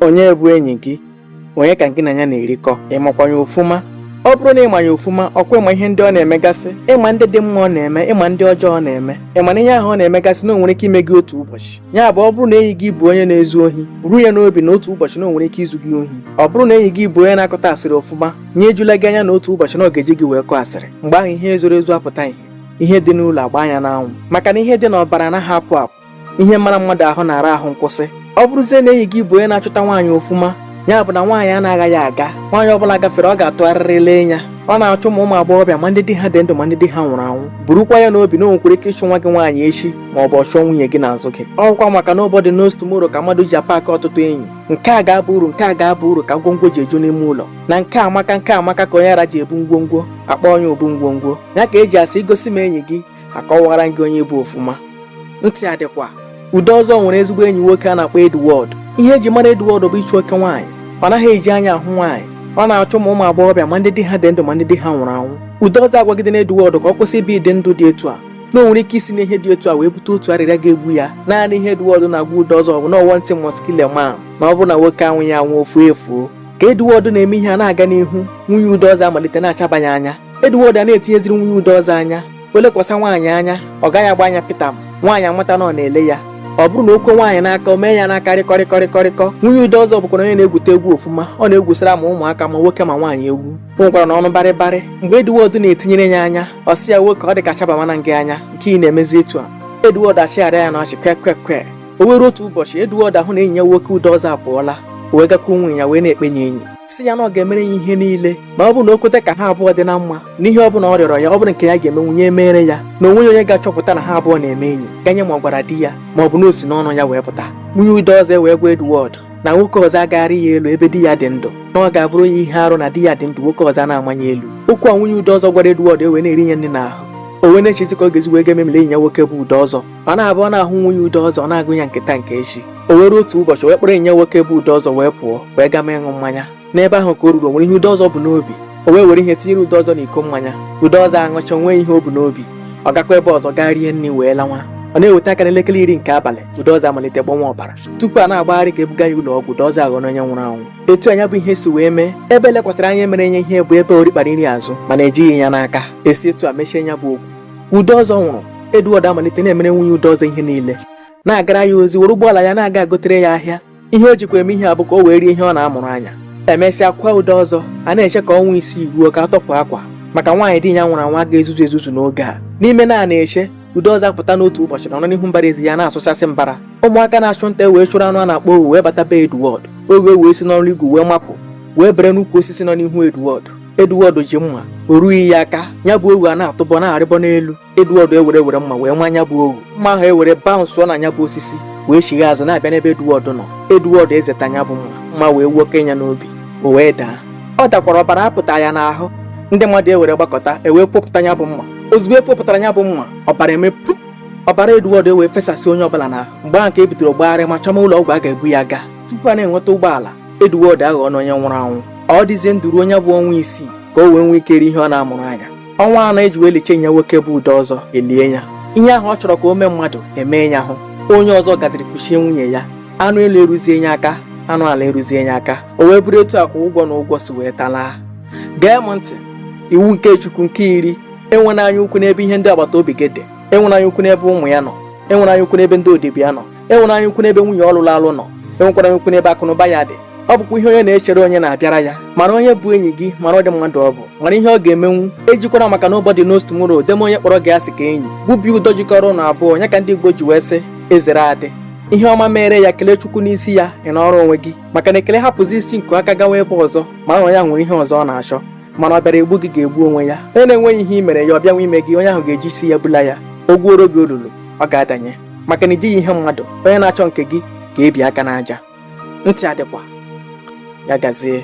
onye bụ enyi gị onye ka gị na ya na-erikọ ịmakwa ya ofuma ọ bụrụ na ịma ya ofuma ọkwa ịma ihe ndị ọ na-emegasị ịma ndị dị mma ọ na-eme ịma ndị ọjọọ ọ na-eme ịma na ihe ahụ ọ na-emegasị na o nwere ike ime gị otu ụbọchị ya bụ ọ bụrụ na enyi gị bụ onye na-ezu ohi buru ya n'obi na otu ụbọchị na o nwere ike izu gị ohi ọ bụrụ na enyi gị bụ onye na-akọta asịrị ofuma ya ejula gị anya na otu ụbọchị na ọ ga-eji gị wee kọọ asịrị mgbe ahụ ihe zoro ezo apụta ihe ihe dị n'ụlọ agba anya n'anwụ maka na ihe dị n'ọbara anaghị apụ apụ ihe mara mmadụ ahụ na-ara ahụ nkwụsị ọ bụrụzie na enyi gị bụ onye na-achụta nwaanyị ofuma ya bụ na nwaanyị anaghị aga nwaanyị ọbụla gafere ọ ga-atụgharịrị lee ya ọ na-achụ ma ụmụ agbọghọbịa ma ndị di ha dị ndụ ma ndị di ha nwụrụ anwụ burukwa ya n'obi na o nwekwara ike ịchụ nwa gị nwaanyị echi ma ọ bụ ọ chụọ nwunye gị n'azụ gị ọkwa maka na nobody knows tomorrow ka mmadụ ji apaakị ọtụtụ enyi nke a ga-aba uru nke a ga-aba uru ka ngwongwo ji eju n'ime ụlọ na nke amaka nke amaka ka onye ara ji ebu ngwongwo akpọọ ya obu ngwongwo ya ka eji asị igosi m enyi gị akọwara gị onye ị bụ ofuma ntị adịkwa Udeọzọ nwere ezigbo enyi nwoke a na-akpọ Edward ihe eji mara Edward bụ ịchụ oke nwaanyị ọ naghị eji anya ahụ nwaanyị ọ na-achụ ma ụmụ agbọghọbịa ma ndị di ha dị ndụ ma ndị di ha nwụrụ anwụ Udeọzọ agwagidena Edward ka ọ kwụsị ibi ụdị ndụ dị etu a na o nwere ike isi n'ihe dị etu a wee bute otu arịrịa ga-egbu ya naanị ihe Edward na-agwa Udeọzọ bụ na one thing must kill a man na ọ bụ na nwoke anwụghị anwụ o fuo efuo ka Edward na-eme ihe a na-aga n'ihu nwunye Udeọzọ amalite na-achaba ya anya Edward a na-etinyeziri nwunye Udeọzọ anya o lekwasa nwaanyị anya ọ gaghị agba anya pịtam nwaanyị amata na ọ na-ele ya ọ bụrụ na o kwe nwaanyị n'aka o mee ya n'aka rịkọrịkọrịkọrịkọ nwunye Udeọzọ bụkwara onye na-egwute egwu ofuma ọ na-egwusara ma ụmụaka ma nwoke ma nwaanyị egwu o nwekwara na ọnụ barịbarị mgbe Edward na-etinyere ya anya ọ sị ya nwoke ọ dị ka chabamana gị anya nke ị na-emezi etu a Edward achịgharịa ya na ọchị kwekwekwe o wee ruo otu ụbọchị Edward ahụ na enyi ya nwoke Udeọzọ apụọla wee gakwuo nwunye ya wee na-ekpe ya enyi sị ya na ọ ga-emere ya ihe niile ma ọ bụ na o kweta ka ha abụọ dị na mma na ihe ọ bụla ọ rịọrọ ya ọ bụrụ nke ya ga-emenwu ya emere ya na o nweghị onye ga-achọpụta na ha abụọ na-eme enyi ganye ma ọ gwara di ya ma ọ bụ na o si n'ọnụ ya wee pụta nwunye Udeọzọ wee gwa Edward na nwoke ọzọ agaghị arị ya elu ebe di ya dị ndụ na ọ ga-abụrụ ya ihe arụ na di ya dị ndụ nwoke ọzọ na-ama ya elu okwu a nwunye Udeọzọ gwara Edward ewee na-eri ya nri n'ahụ o wee na-echezi ka ọ ga-esi wee ga-ememila enyi ya nwoke bụ Udeọzọ ọ na-abụ ọ na-ahụ nwunye Udeọzọ ọ na-agụ ya nke taa nke echi o wee ruo otu ụbọchị wee kpọrọ enyi ya nwoke bụ Udeọzọ wee pụọ wee gama ịṅụ mmanya n'ebe ahụ ka o ruru nwere ihe Udeọzọ bu n'obi o wee were ihe tinyere Udeọzọ n'iko mmanya Udeọzọ aṅụcha nwee ihe o bu n'obi ọ gakwa ebe ọzọ gaa rie nri wee lawa ọ na-eweta aka n'elekere iri nke abalị Udeọzọ amalite gbọwa ọbara tupu a na-agbagharị ka ebuga ya ụlọ ọgwụ Udeọzọ aghọrọ onye nwụrụ anwụ etu a ya bụ ihe si wee mee ebe elekwasịrị anya mere ya ihe bụ ebe o rikpara nri azụ mana ejighị ya n'aka esi etu a mechie ya bụ okwu Udeọzọ nwụrụ Edward amalite na-emere nwunye Udeọzọ ihe niile na-agara ya ozi were ụgbọala ya na-aga agotere ya ahịa ihe o jikwa eme ihe a bụ ka o wee rie ihe ọ na-amụrụ anya e mesịa kwaa Udeọzọ a na-eche ka ọnwa isii ruo ka a tọpụ akwa maka nwaanyị di ya nwụrụ anwụ ga-ezuzu ezuzu n'oge a n'ime na a na-eche Udeọzọ apụta n'otu ụbọchị na ọ nọ n'ihu mbara ezi ya na-asụchasị mbara ụmụaka na-achụ nta e wee chụrụ anụ a na-akpọ ohu wee bata be Edward ohu ewee si n'ọrụ igwu wee mapụ wee bere n'ukwu osisi nọ n'ihu Edward Edward ji mma o rughị ya aka ya bụ ohu a na-atụbọ na-arịbọ n'elu Edward ewere were mma wee maa ya bụ ohu mma ahụ ewere baụnsụọ na ya bụ osisi wee chigha azụ na-abịa n'ebe Edward nọ Edward ezeta ya bụ mma mma wee nwoke ya n'obi o wee daa ọ dakwara ọbara apụta ya n'ahụ ndị mmadụ ewere gbakọta ewee fopụta ya bụ mma ozugbo e fopụtara ya bụ mma ọbara emepụ ọbara Edward ewee fesasị onye ọbụla n'ahụ mgbe ahụ ka e bidoro gbagharịma chọma ụlọ ọgwụ a ga-ebu ya gaa tupu a na-enweta ụgbọala Edward aghọọna onye nwụrụ anwụ ọ dịzie ndụ ruo nya bụ ọnwa isii ka o wee nwee ike rie ihe ọ na-amụrụ anya ọnwa anọ e ji wee liche nya nwoke bụ Udeọzọ e lie ya ihe ahụ ọ chọrọ ka o mee mmadụ emee ya hụ onye ọzọ gaziri kuchie nwunye ya anụ elu eruzie ya aka anụ ala eruzie ya aka o wee bụrụ etu akwa ụgwọ na ụgwọ si wee talaa gee m ntị iwu nke Chukwu nke iri enwera anya ukwu n'ebe ihe ndị agbata obi gị dị enwera anya ukwu n'ebe ụmụ ya nọ enwera anya ukwu n'ebe ndị odibo ya nọ enwera anya ukwu n'ebe nwunye ọ lụrụ alụ nọ enwekwara anya ukwu n'ebe akụnụba ya dị ọ bụkwa ihe onye na-echere onye na-abịara ya mara onye bụ enyi gị mara ụdị mmadụ ọ bụ mara ihe ọ ga-emenwu ejikwara maka nobody knows tomorrow deme onye kpọrọ gị asị ka enyi gbubi ụdọ jikọrọ unu abụọ nya ka ndị Igbo ji wee sị e zere a dị ihe ọma mere ya kelee Chukwu n'isi ya ị nọrọ onwe gị maka na ekele hapụzi isi nkụ aka gawa ebe ọzọ mara na onye ahụ nwere ihe ọzọ ọ na-achọ mana ọ bịara egbu gị ga-egbu onwe ya onye na-enweghị ihe i mere ya ọ bịanwa ime gị onye ahụ ga-eji isi ya bula ya o gwuoro gị olulu ọ ga-adanye maka na i jighị ihe mmadụ onye na-achọ nke gị ga-ebi aka n'aja ntị adịkwa ya gazie